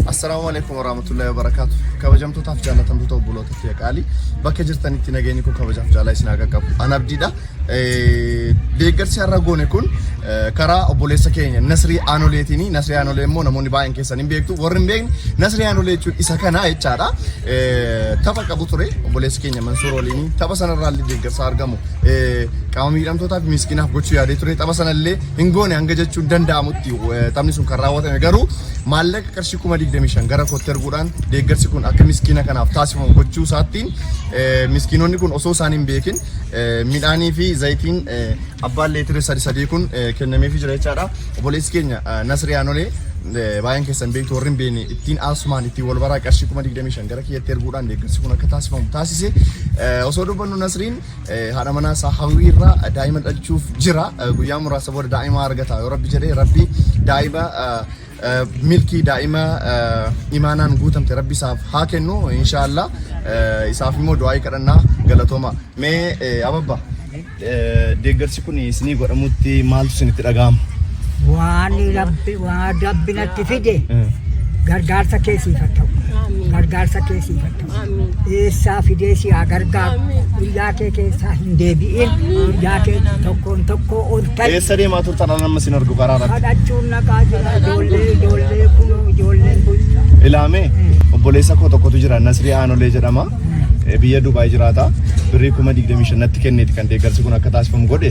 Assalaamu alaikum warahmatullahi wabarakatuh. Kabajamtootaaf jaallatamtoota obboloota fi qaalii bakka jirtanitti nageenyi koo kabajaaf jaalaa isin haa qaqqabu. An abdiidha. Eh, Deeggarsi har'a goone kun eh, karaa obboleessa keenya Nasrii Aanoleetiini. Nasrii Aanolee immoo namoonni baay'een keessan hin beektu. Warri hin beekne Nasrii Aanolee jechuun isa kana jechaadha. Eh, Tapha qabu ture obboleessi keenya Mansuur waliin tapha sanarraa illee deeggarsa argamu eh, qaama miidhamtootaa fi miskiinaaf gochuu yaadee ture. Tapha sanallee hin goone hanga jechuun danda'amutti taphni sun kan raawwatame garuu maallaqa qarshii kuma 25 gara kootti erguudhaan deeggarsi kun akka miskiina kanaaf taasifamu gochuu isaattiin miskiinonni kun osoo isaan hin beekin midhaanii fi zayitiin abbaan leetira sadi sadii kun kennameefi jira jechaadha. Obboleessi keenya Nasri Yaanolee baay'een keessan beektu warri hin beekne ittiin aasumaan ittiin wal baraa qarshii kuma 25 gara kiyyatti erguudhaan deeggarsi kun akka taasifamu taasise osoo dubbannu Nasriin haadha manaa isaa hawwii irraa daa'ima dhalchuuf jira. Guyyaa muraasa booda daa'ima argata yoo rabbi jedhee rabbi daa'ima milkii daa'ima imaanaan guutamte rabbi isaaf haa kennu inshaallah isaaf immoo du'aa'ii kadhannaa galatooma. Mee ababba deeggarsi kun isinii godhamutti maaltu isinitti dhaga'ama? Waan rabbi waan rabbi natti fide gargaarsa keessiif haa ta'u. Gargaarsa keessiif haa ta'u. eessaa fidee si haa gargaaru biyyaa kee keessaa hin deebi'in biyyaa kee tokkoon tokkoo ol ta'e Eessa deemaa turtan ala nama sin argu karaa irratti? kadhachuun naqaa jira ijoollee ijoollee kunoo ijoolleen kun Ilaamee obboleessa koo tokkotu jira Nasrii Aanolee jedhama. Eh, Biyya Dubaay jiraata. Birrii kuma 25 natti kenneeti kan deeggarsi kun akka taasifamu godhe.